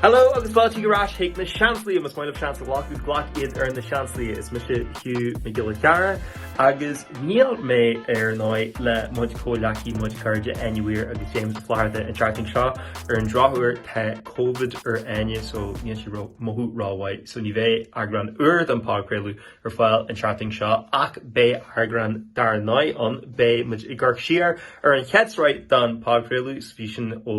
Hello agus fáilte ar ais chuig na Seansálaithe. Más maith libh seans a ghlacadh, glac iad ar na Seansálaithe. Is mise Hugh Mac Giolla Chearra agus níl mé ar ndóigh le mo chuid comhghleacaithe mo chuid cairde Áine Weir agus James Ó Flatharta an tseachtain seo ar an drochuair tá covid ar Áine so níl sí ag mothú rómhaith so ní bheidh eagrán úr den podchraoladh ar fáil an tseachtain seo ach beidh eagrán dar ndóigh ann beidh muid ag amharc siar ar an chéad sraith den podchraoladh so bhí sin ó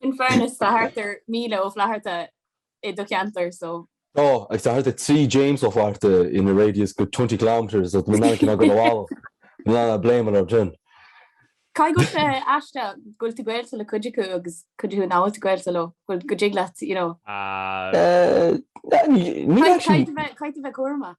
In fairness tá thart ar 1,000 Ó Flatharta i do cheantar so. Tá, agus tá thart ar 3 James Ó Flatharta in a radius good 20 kilometres so ní maith liom cinn agam a mhalairt. Ní maith liom a bléimeadh leo sin. Caithfidh go bhfuil sé aisteach go bhfuil tú gaolta le cuid acu agus cuid acu nach bhfuil tú gaolta leo, go bhfuil go dtig leat, you know. Caithfidh a bheith cúramach.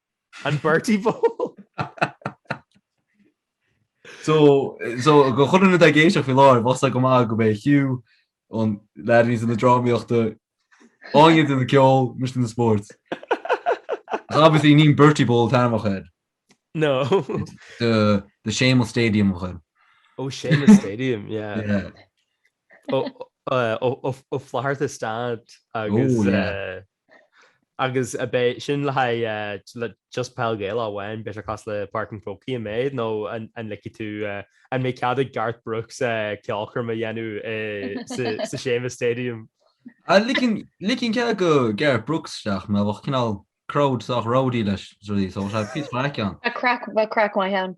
An Bertie Bowl! So, so go chuile dhuine atá ag éisteacht faoi láthair, bhosla go maith go mbeidh Hugh an leadní san na drámaíochta, Áine san na ceol, mise na spóirt. Ach obviously ní an Bertie Bowl taim a chuir. No. The, the Seamus Stadium a chuir. Ó Seamus Stadium, yeah. Yeah. Ó, ó, ó, ó, ó Flatharta Stand agus, Oh, yeah. eh, Agus an mbeidh sin le haghaidh just peil Ghaelach amháin, beidh sé cosúil le Páirc an Chrócaigh an méid nó an ligfidh tú, an mbeidh cead ag Garth Brooks ceolchoirm a dhéanamh sa Seamus Stadium? Ligfinn cead go Garth Brooks isteach mar bheadh cineál crowd sách rowdy leis, is rud é só, is é piece maith ceann. Bheadh craic maith ann.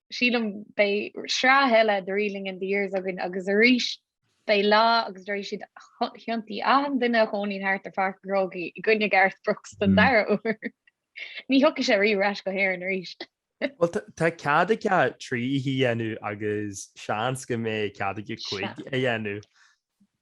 sílim beidh sraith eile de Reeling in the Years againn agus arís beidh lá agus déarfaidh siad thiontaigh achan duine a chónaíonn thart ar Pháirc an Chrócaigh i gcoinne Garth Brooks don hmm. dara uair. Ní thiocfaidh sé riamh ar ais go hÉirinn arís. Well tá cead aige trí oíche a dhéanamh agus seans go mbeidh cead aige cúig a dhéanamh.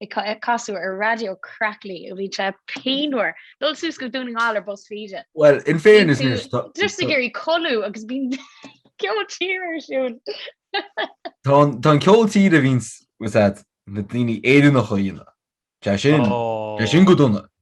ag casadh ar raidió crackly ó bíonn sé pianmhar dul suas go Dún na nGall ar Bus Feda. Bhuel, in fairness anois tá. Just ag iarraidh codladh agus bíonn ceol tíre ar siúl. Tá an ceol tíre a bhíonns, bhfuil a fhios agat, na daoine Éireannacha a dhéanamh. Tá sé sin, sé sin go dona.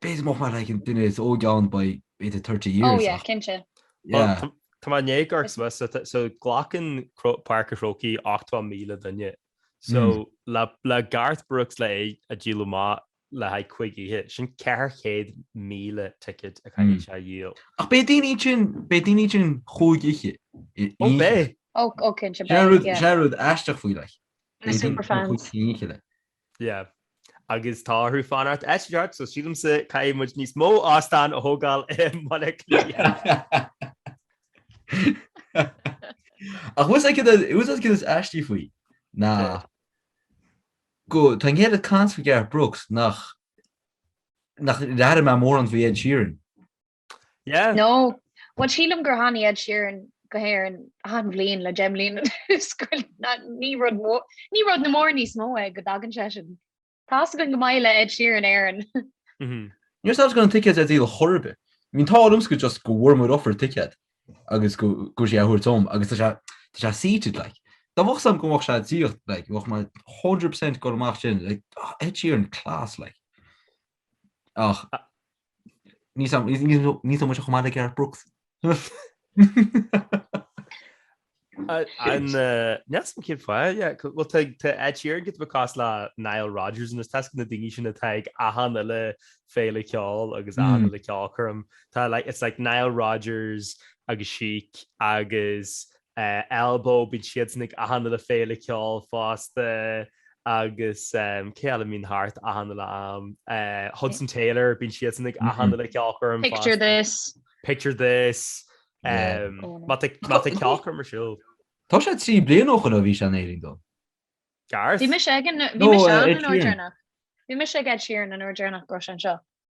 Beidh mise like an duine is óige ann by about thirty years ach. Oh yeah, cinnte. Yeah. Tá mé in éagóir cos mé, so glacann Páirc an Chrócaigh ochtó míle duine. So le Garth Brooks le é a díol amach le haghaidh cúig oíche, sin ceithre chéad míle ticket a chaithfidh sé a dhíol. Ach beidh daoine ansin, beidh daoine ansin cúig oíche. Oh beidh. Oh, oh cinnte beidh, yeah. Sin é rud aisteach faoi like. Na superfans. Yeah. Agus tá orthu fanacht thart so sílimse caithfidh muid níos mó óstán a thógáil i mBaile Átha Cliath. Ach fhios agat caidé is aistí faoi ná go tá an oiread caint faoi Garth Brooks nach nach chuala mé mórán faoi Ed Sheeran. Yeah. No. Bhuel sílim gur tháinig Ed Sheeran go hÉireann achan bhliain le deich mbliana anuas go na- ní rud mó- ní rud na mór níos mó é go dtagann seisean. Tá a fhios againn go maith le Ed Sheeran Éireann. Mhm. Ní raibh a fhios agam go raibh na ticéid ar díol chor ar bith. I mean tá orm sco just go bhfuair muid offer ticéad agus go go bhfuil sé á thabhairt dom agus tá sé tá sé seated like. Dá mbeadh a fhios agam go mbeadh sé seated like bheadh mé 100% ag dul amach sin like ah Ed Sheeran class like. Ach Níl sé chomh maith le Garth Brooks. Neas an céad fáil bhuel tá Ed Sheeran giota beag cosúil le Nile Rodgers anois tá a fhios agat na daoine sin atá ag achan uile féile ceoil agus achan uile ceolchoirm Tá it's like Nile Rodgers agus Chic agus Elbow, bíonn siadsan ag achan uile féile ceoil fosta agus cé eile a mbíonn thart achan uile am? Hudson Taylor, bíonn siadsan ag achan uile ceolchoirm fosta. Picture This. Picture This. Má tá ceolchoirm ar siúl. Tá sé trí bliana ó shoin ó bhí sé in Éirinn though. Garth? Bhí mise ag an, bhí mise ann an uair deireanach. Bhí mise ag Ed Sheeran an uair deireanach go raibh sé anseo.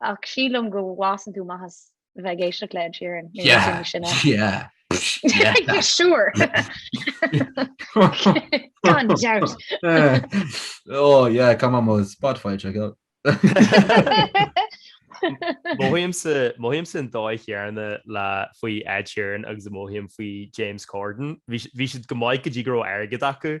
ach sílim go bhfásann tú amach as bheith ag éisteacht le Ed Sheeran sure gan dabht ó cá má Spotify go Mothaímse an dóigh chéanna le faoi Ed Sheeran agus mothaím faoi James Corden. Bhí siad go maith go dtí go raibh airgead acu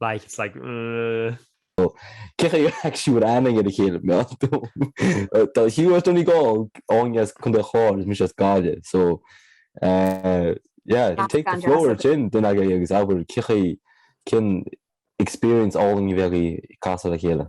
Like, it's like, uh. Cén chaoi a bhfuil aithne agaibh ar a chéile I mean? Tá Hugh as Donegal, Áine as Contae an Chláir agus mise as Gaillimh so yeah, take the floor ansin duine agaibh agus abair cén chaoi cén experience álainn a bhí agaibh ag casadh le chéile.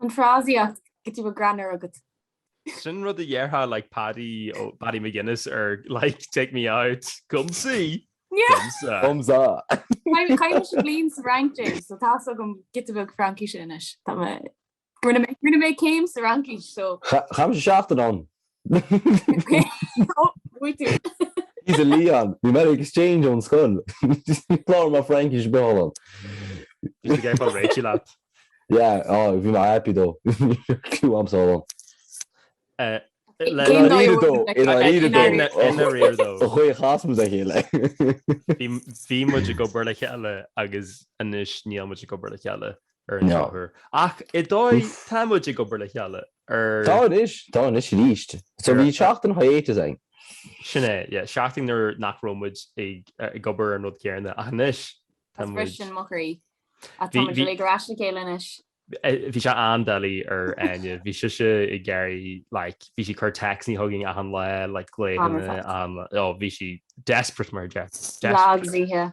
An frásaíocht giota beag greannmhar agat. Sin rud a déarfadh like Paddy ó Paddy McGuinness ar like take me out Comme ci! Comme ça! Comme ça! Chaith mise bliain sa Fhrainc yeah so tá's agam giota beag Fraincíse anois. Tá mé rinne mé céim sa Fhraincis so. Chaith mise seachtain ann. He's a Lyon. Bhí mé ar exchange ón scoil. Clár mar Fraincis beo ann. Bhí sé fá réitigh leat. Yeah, oh, bhí mé happy though. Cliú am sá ann. Cén dóigh though? I ndáiríre though. I ndáiríre though. Ba chaoi chas muid le chéile. Bhí muid ag obair le chéile agus anois níl muid ag obair le cheile. ar an drochuair. Ach i dóigh tá muid ag obair le chéile ar. Tá anois, tá anois arís. So bhí seachtain hiatus againn. Sin é, yeah, seachtain nuair nach raibh muid ag ag obair ar an rud céanna ach anois tá muid. Tá mo chroí. Ach tá muid ar ais le chéile anois. Bhí sé an-doiligh ar Áine, bhí sise ag iarraidh like bhí sí ag cur textannaí chugainn achan lá like glaonna an bhí sí desperate mar dhea. Lá agus oíche.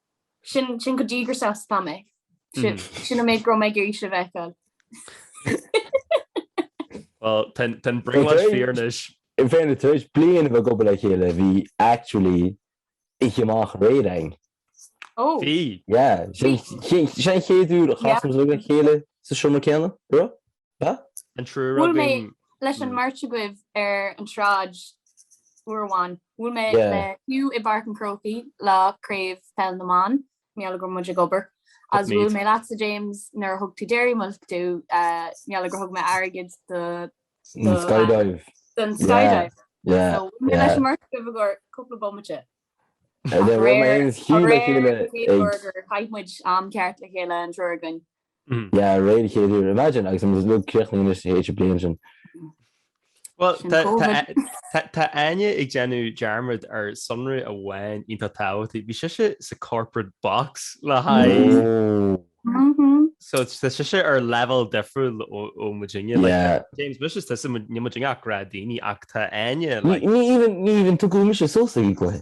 Sin sin chomh díograiseach is atá mé. Sin sin an méid go raibh mé ag iarraidh sibh a fheiceáil. Well, ten ten bring much Fairness. Fairness. In fairness, tar éis bliain a bheith ag obair le chéile, bhí actually oíche amach aréir againn. Ó! Bhí. Yeah, sin sin an chéad uair a chas muid le chéile sa seomra céanna, go raibh? An triúr againn. Bhuail mé leis an mbeirt agaibh ar an tsráid uair amháin. Bhuail mé le Hugh i bPáirc an Chrócaigh lá Craobh Peil na mBan, mar gheall go raibh muid ag obair, agus bhuail mé leatsa James nuair a thug tú Dairy Milk domh, mar gheall gur thug mé airgead do don skydive. Don skydive. Yeah. So bhuail mé leis an mbeirt agaibh i gcomhair cúpla bomaite. Ach aréir, aréir, an chéad uair gur chaith muid am ceart le chéile an triúr againn, Mhm. Yeah, aréir an chéad uair. Imagine, agus I'm just look críochnaigh anois to hate your bliain sin. Well, Sin tá- tá COVID. a- tá- tá Áine ag déanamh dearmad ar sonra amháin iontach tábhachtach. Bhí sise sa corporate box le haghaidh. Oh, Mhm. So tá sise ar level difriúil ó ó muidinne. Like, yeah. James, mise is tusa níl muidinne ach gnáthdhaoine ach tá Áine Ní like, ní even ní even tugadh mise sos ag an gcluiche.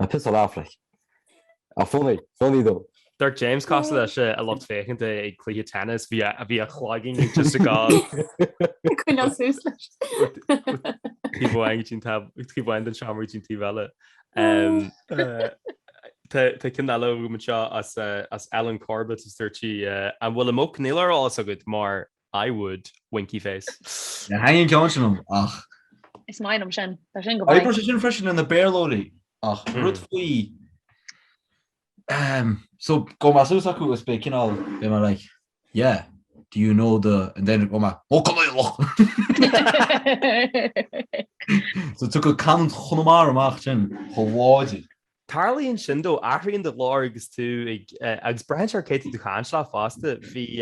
Ah piss off like. A funny, funny though. D'amharc James cosúil leis an lucht féachanta ag cluiche tennis bhí a bhí a chloigeann ag just ag gabháil. Ag coinneáil suas leis. Taobh amháin go dtí an taobh, taobh amháin den seomra go dtí an taobh eile. Tá ceann eile agam anseo as Alan Corbett is dúirt sí, An bhfuil a muc níl ar fheabhas agat mar I would, winky face. Níor tháinig an ceann sin liom ach. Is maith liom sin. Tá sin go maith. Oibreoidh sé sin freisin le na Béarlóirí ach rud faoi ehm so go mbeadh a fhios acu is beidh cineál beidh mé like yeah do you know the and then go mbeadh oh Conaola! So tagann canúint Chonamara amach ansin chomh láidir. Tarlaíonn sin though, athraíonn do ghlór agus tú ag, agus braitheann sé ar cé atá tú ag caint le fosta. Bhí,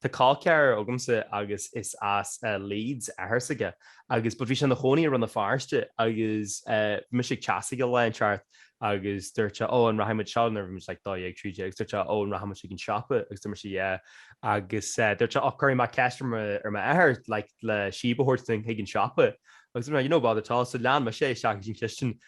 tá col ceathrair agamsa agus is as Leeds athair s'aige agus, but bhí sé ina chónaí i Rann na Feirste agus bhí mise ag teach s'aige lá inteacht agus dúirt sé oh an rachaidh muid seo nuair a bhí muid like dó dhéag, trí déag agus dúirt sé oh an rachaidh muid chuig an siopa agus dúirt mise yeah agus dúirt sé oh cuirfidh mé ceist ar mo, ar m'athair like le síob a thabhairt dúinn chuig an siopa agus dúirt mé yeah no bother at all. So lean mise é isteach go dtí an chistin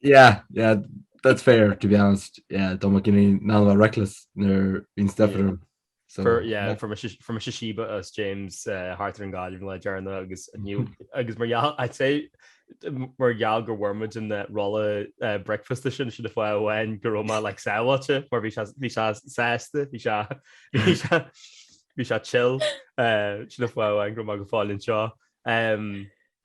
yeah, yeah, that's fair to be honest. Yeah, don't make any now reckless near in step yeah. room. So, for, yeah, yeah. from a from a Shishiba us James uh, Harter and God even like Jarna agus new agus mar y'all I'd say mar y'all go wormid in that rolla uh, breakfast edition should if I went go ma like sawacha mar vi vi sasta vi sha vi sha vi sha chill uh should if I went go ma go fall in seo um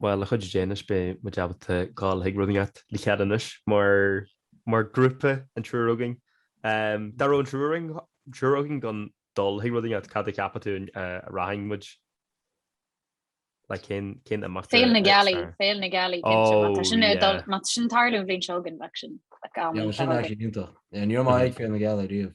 Bhuel, le cuidiú Dé anois, beidh muid ábalta dul chuig rud inteacht le chéile anois mar grúpa, an triúr againn. Dá raibh an triúr againn chun dul chuig rud inteacht, cad a cheapann tú a rachadh muid? Like, cén, cén imeacht? Féile na Gealaí, Féile na Gealaí, oh, sin é dul, má tá sin ag tarlú an bhliain seo chugainn, bheadh sin. Sin é sin iontach. Ní raibh mé ag Féile na Gealaí riamh.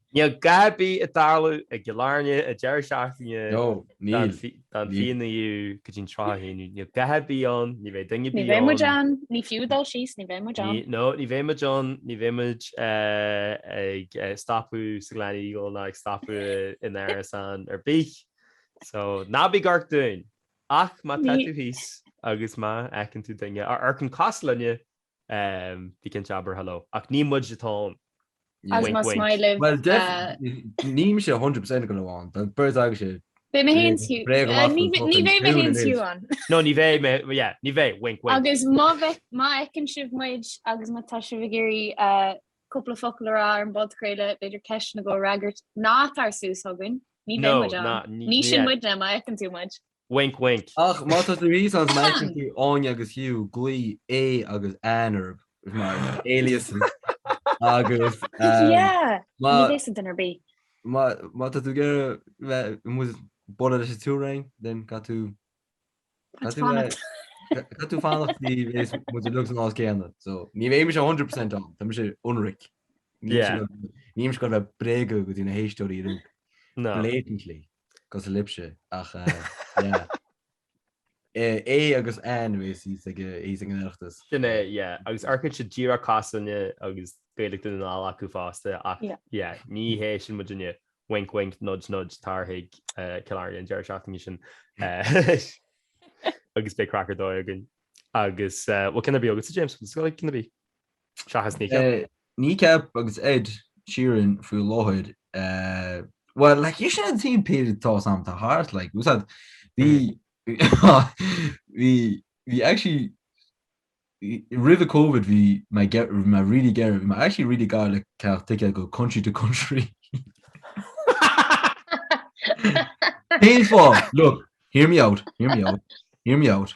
Níl a dhath ar bith ag tarlú i gCill Airne an deireadh seachtaine den fiche naoú go dtí'n tríocha haon. Níl a dhath ar bith ann, ní bheidh duine ar bith ann. Ní bheidh muid ann, ní fiú dul síos, ní bheidh muid ann. No, ní bheidh muid ann, ní bheidh muid ag stopadh sa Gleneagle ná ag stopadh in árasán ar bith. So, ná bí ag amharc dúinn! Ach má tá tú thíos agus má fheiceann tú duine a amharcann cosúil linne, Bí cinnte abair hello. Ach ní muid atá ann. As mo smile libh. Bhuel definitely níl mise 100% ag gabháil ann. Bheadh beirt agaibhse Beidh mé fhéin is Hugh. bréag amach Ní chun ní fucking bheidh mé ciúin fhéin is Hugh anois. ann. No ní bheidh mé, yeah, ní bheidh, wink wink. Agus má bheith, má fheiceann sibh muid agus má tá sibh ag iarraidh cúpla focal a rá ar an bpodchraoladh, b'fhéidir ceisteanna a fhreagairt, ná tar suas chugainn. Ní bheidh No, muid ann. ná, ní, Ní sin yeah. muidne, má fheiceann tú muid. Wink wink. Ach má tá tú thíos ansin is má fheiceann tú Áine agus Hugh glaoigh Aodh agus Anne orthu mar aliases agus má tá tú ag iarraidh bualadh leis an triúr againn then caithfidh tú caithfidh tú fanacht go dtí go mbeidh muid uilig san áit chéanna so ní bheidh mise 100% ann tá mise ionraic níl mise ag gabháil a bheith ag bréagadh go dtí na héisteoirí ú blatantly cosúil libhse ach yeah. Aodh agus Anne nó is thíos ag an Oireachtas. Sin é yeah agus amharcann siad díreach cosúil linne agus Gaeilge Dhún na nGall acu fosta ach yeah ní hé sin muidinne. Wink wink nudge nudge tar chuig Cill Airne an deireadh seachtaine sin agus beidh craic ar dóigh againn. Agus bhfuil ceann ar bith agatsa James? Cad is ceann ar bith? Seachas Kneecap. Kneecap agus Ed Sheeran faoi láthair. Eh well, like, is é an t-aon pid atá sam tá thart, like, úsáid, bhí, bhí, bhí actually, roimh Covid bhí mé ge- bhí mé really gearr, bhí mé actually really gar le ticéad go country to country. Cén fáth? Look, hear me out, hear me out, hear me out.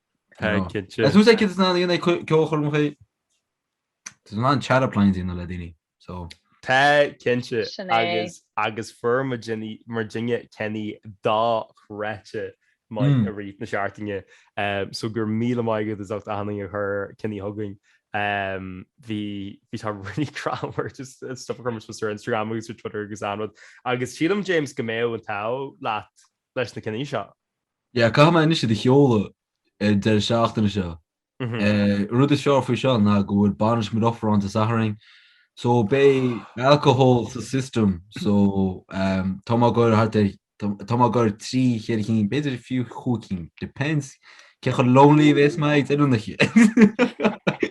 I know. Is dócha cinnte nach ndéanfaidh sé ceolchoirm choíche. Tá sin an teara plean dhéanamh le daoine, so. Tá cinnte agus agus fuair muidinne muidinne ceannaí dochreidte maith i rith na seachtaine so go raibh míle maith agat as ucht achan duine a chuir ceannaí chugainn. Bhí bhí tá really cause just stuff a chuir muid ar Instagram agus ar Twitter agus achan rud agus sílim James go mbeidh an t-ádh leat leis na ceannaí seo. Yeah, caithfidh mé anois iad a sheoladh ar deireadh seachtaine seo. An rud is fearr faoi seo ná go bhfuil bainis mo dheirféar ann Dé Sathairn. So beidh alcohol sa system so tá mé ag iarraidh thart ar, tá mé ag iarraidh trí, ceithre cinn, b'fhéidir fiú cúig cinn, depends cé chomh lonely a bhéas mé ag deireadh na.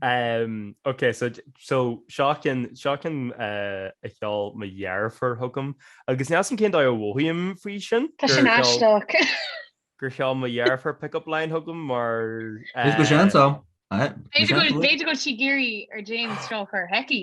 Ok so seo ceann seo ceann a sheol mo dheirfiúr chugam agus níl a fhios agam cén dóigh a mhothaím faoi sin. Tá sin aisteach. gur sheol mo dheirfiúr pick up line chugam mar is dócha seans ann. B'fhéidir go bhfuil sí ag iarraidh ar James seo a chur chuici.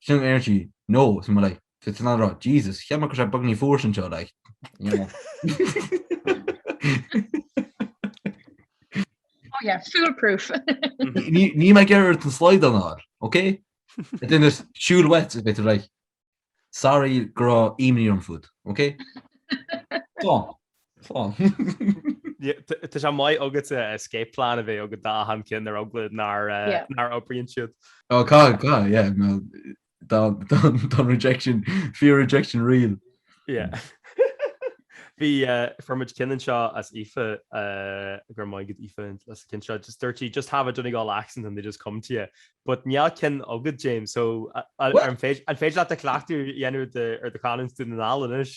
Sin ar sí, no, so mo like, so sin a rá, Jesus, cheap mé gur sé beag ní fuar sin seo like, you know. Oh yeah, fool proof. Ní ní mé gearr an slide an ár, ok? It then is siúl wet a bit like, sorry gur á imní orm fút, ok? Tá, Tá sé maith ag an escape plan a bheith agat d'achan cheann ar eagla nach nach n-oibríonn siad. Oh God God yeah no dá dá rejection fear rejection real. Yeah Bhí fuair muid ceann anseo ó Aoife go raibh maith agat Aoife as an cheann seo just dúirt sí just have a Donegal accent and they just come to you but níl ceann agat James so an féidir leat cleachtadh a dhéanamh ar do chanúint Dhún na nGall anois?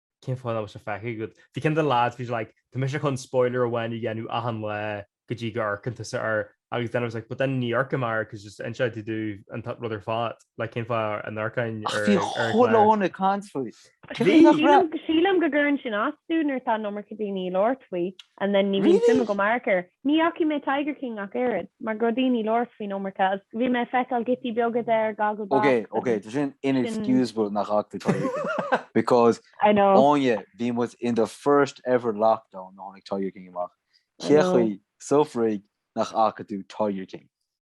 cén fáth nach bhfuil sé feicthe agat? Bhí ceann de na lads, bhí sé like, tá mise chun spoiler amháin a dhéanamh achan lá go dtí go amharcann tusa air agus then I was like, but then níor amharc mé air cause just just to do an rud ar fad, like cén fáth an amharcainn ar Bhí chuile dhuine ag caint faoi. Sílim go gcuireann sin as domh nuair tá an iomarca daoine ag labhairt faoi and then ní bhíonn suim agam amharc air. Ní fhacaidh mé Tiger King ach oiread, mar go raibh daoine labhairt faoin iomarca agus bhí mé ag feiceáil giotaí beaga de ar Ok, Gogglebox ok, tá sin sin. inexcusable nach fhaca tú Tiger King. Because, I know. Áine, bhí muid in the first ever lockdown nuair a tháinig Tiger King amach. I Cé know. chaoi, sa fraic, nach fhaca tú Tiger King?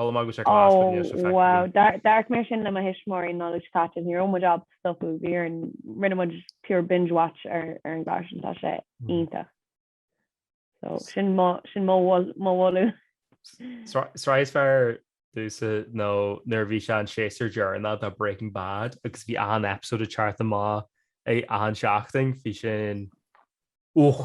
Mhol mé go síoraí é chun go mbíodh sé feicthe agam. Ó, wow. D'amharc mé sin le mo thuismitheoirí an Nollaig seo caite. Ní raibh muid ag stopadh. Bhí ar, rinne muid pure binge watch ar an gclár sin. Tá sé iontach. So, sin mo, sin mo mhol, mo mholadh. Sraith is fearr domhsa nó nuair a bhí sé an séasúr deireanach de Breaking Bad agus bhí achan episode ag teacht amach ag achan seachtain. Bhí sin, uch,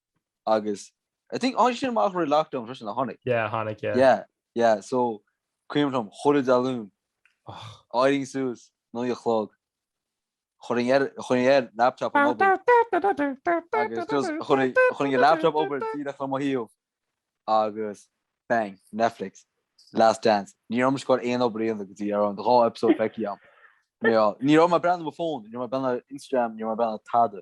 agus I think tháinig sin amach roimh lockdown freisin ar tháinig. Yeah tháinig yeah. Yeah yeah so cuimhin liom chuile Dé Luain d'éirínn suas naoi a chlog chuirinn air chuirinn air laptop na hoibre agus just chuirinn chuirinn air laptop na hoibre díreach le mo thaobh agus bang Netflix Last Dance ní raibh mé ag goil ag obair go dtí go raibh an dá episode feicthe agam ní raibh mé ag breathnú ar mo phone ní raibh mé ag breathnú ar Instagram ní raibh mé ag breathnú ar tada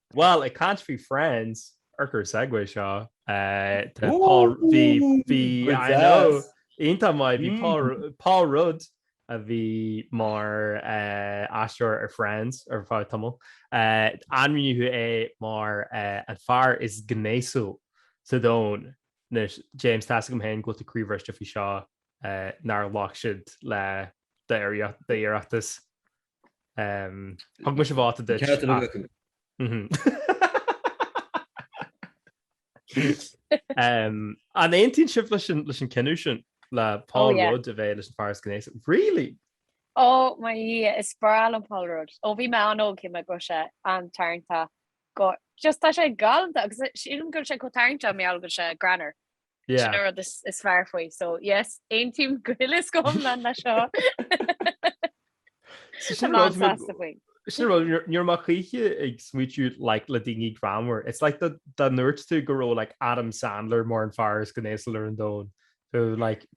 Bhuel, ag caint faoi Friends, urchar segue seo, tá Paul, bhí, bhí, I know, iontach maith, bhí Paul, Paul Rudd a bhí mar aisteoir ar Friends ar feadh tamaill. Ainmníodh é mar an fear is gnéasúla sa domhan. Anois, James, tá a fhios agam féin go bhfuil tú croíbhriste faoi seo nár ghlac siad le d'iarratas. Thug mise vóta duit ach... An aontaíonn sibh leis an cinneadh sin le Paul Rudd a bheith leis an fear is gnéasúla? Really? Ó mo Dhia, is breá liom Paul Rudd. Ó bhí mé an-óg shíl mé go raibh sé an-tarraingteach go... just tá sé galanta agus sílim go bhfuil sé chomh tarraingteach mar gheall go bhfuil sé greannmhar. Sin an rud is fearr faoi. So yes, aontaím go huile is go hiomlán leis seo. Iontach sásta faoi. Sin rud ní raibh mé choíche ag smaoitiú like le daoine greannmhar. It's like dá ndúirt tú go raibh like Adam Sandler mar an fear is gnéasúla ar an domhain. Like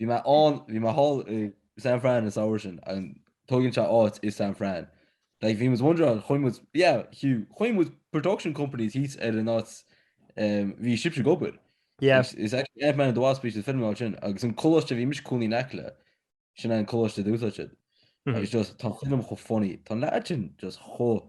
Bhí mé ann, bhí mé thall i San Fran an samhradh sin, an dtógann sé áit i San Fran? Like bhí muid wondering an chuaigh muid, yeah Hugh, chuaigh muid production company thíos ar an áit ehm bhí sibhse ag obair. Yeah. Is is actually Ant-Man and the Wasp is an film ann sin agus an coláiste bhí mise i mo chónaí in aice leis, sin é an coláiste d'úsáid siad. Mhm. Agus just tá an film chomh funny, tá an leaid sin just chomh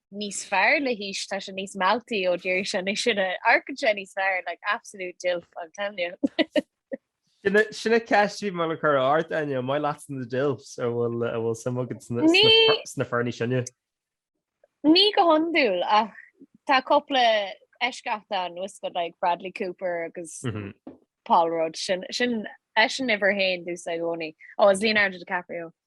níos fearr le haois tá sé níos mealltaí dáiríre sa lá atá inniu ann amharcann sé níos fearr like absolute dilf I'm telling you. Sin an cheist bhí mé le cur ort Áine, an maith leatsa na dilfs an bhfuil suim agat sna fir níos sine? Ní go hiondúil ach tá cúpla eisceacht ann tá a fhios agat like Bradley Cooper agus Paul Rudd sin eisean uimhir a haon domhsa i gcónaí. Ó is Leonardo DiCaprio.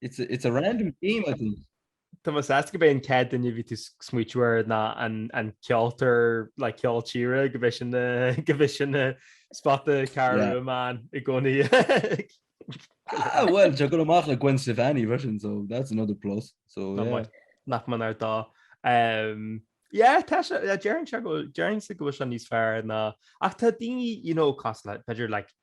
It's a random game I think. Tá mé sásta gurb é an chéad duine a bhí tú ag smaointiú air ná an ceoltóir le ceol tíre gurb é sin gurb é sin an spota ceart amháin i gcónaí. Ah, well, tá sé ag gabháil amach le Gwen Stefani freisin, so that's another plus. So, yeah. Nach méanar dó. Um, yeah, tá sé, deireann sé go, deireann sé go bhfuil sé níos fearr ná, ach tá daoine, you know, cosúil le, b'fhéidir, like,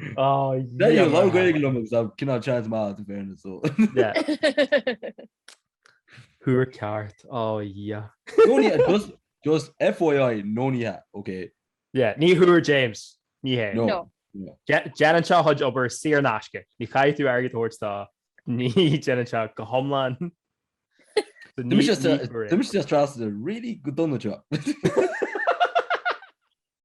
Bhí a lán Gaeilge liom agus tá cineál seans maith in fairness so. Thuar ceart, á dhia. No ní hea, just, just FYI, no ní hea, ok? Yeah, ní bhfuair James, ní hea. No. Déanann sé a chuid obair saor in aisce, ní chaithfidh tú airgead a thabhairt dó, ní déanann sé go hiomlán. D'imigh sé as trasna really go dona seo.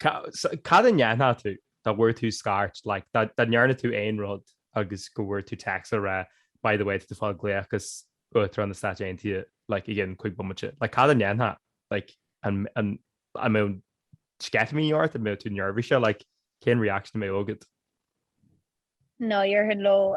Cad a ndéanfadh tú dá bhfuair tú scairt, like, dá ndearna tú aon rud agus go bhfuair tú text ag rá by the way tá tú ag fáil glaoch as Uachtarán na Stáit Aontaithe like i gceann cuig bomaite, like cad a ndéanfadh like an an an mbeadh sceitimíní ort an mbeadh tú neirbhíseach like cén reaction a mbeadh agat? No déarfainn hello,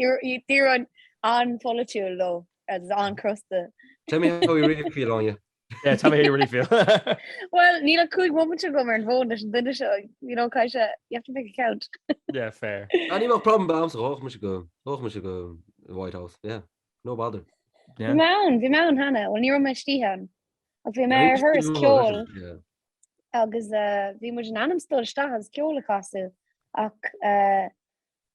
D'éireoinn an-pholaitiúil agus an-chrosta. Tell me how you really feel, Áine. Yeah, tell me how you really feel. Bhuel, níl ach cúig bomaite agam ar an bhfón leis an duine seo, you know, caithfidh sé, you have to make it count. Yeah, fair. Ní bheadh problem agamsa, ghabhfadh mise go, ghabhfadh mise go dtí an White House, yeah, no bother. Bhí mé ann, bhí mé ann cheana, bhuel ní raibh mé istigh ann, ach bhí mé ar thuras ceoil agus bhí muid in ainm 's dul isteach agus ceol a chasadh ach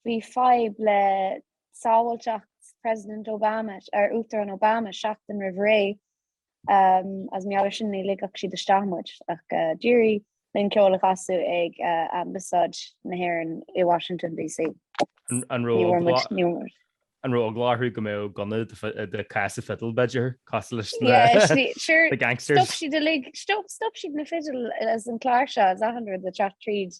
Bhí fadhb le sábháilteacht President Obama, ar Uachtarán Obama, seachtain roimh ré. Is mar gheall air sin ní ligfeadh siad isteach muid ach d'éirigh linn ceol a chasadh ag Ambasáid na hÉireann i Washington DC. An raibh eagla orthu go mbeadh gunna i do chása fidile b'fhéidir? Cosúil leis na gangsters? Stop siad uilig, stop siad na fidil is an chláirseach is achan rud ag teacht tríd.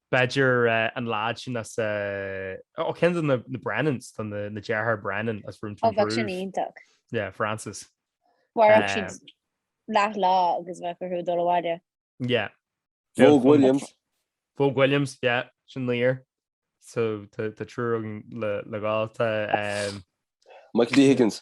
B'fhéidir na lads sin as a, ó ceann de na Brennans, an dá dheartháir Brennan as Room to Improve. Ó bheadh sin iontach. Yeah, Francis. Mhairfeadh siad leath lá agus bheadh orthu dul abhaile. Yeah. Vogue Williams. Vogue Williams, yeah, sin naoir. So tá triúr againn le dhul. Tá. Michael D Higgins.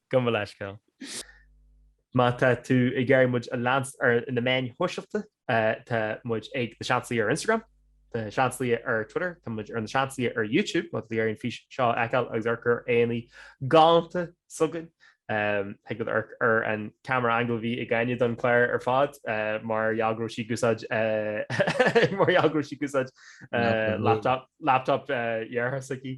Gabh mo leithscéal. Má tá tú ag iarraidh muid a leanstan ar na meáin shóisialta, tá muid ag Na Seansálaithe ar Instagram, Na Seansálaithe ar Twitter, tá muid ar Na Seansálaithe ar YouTube má tá tú ag iarraidh an fís seo a fheiceáil agus amharc ar aghaidheanna galánta s'againn. Thig leat amharc ar an camera angle a bhí ag Caoimhe don chlár ar fad mar gheall go raibh sí ag úsáid mar gheall go raibh sí ag úsáid laptop dheartháir s'aici.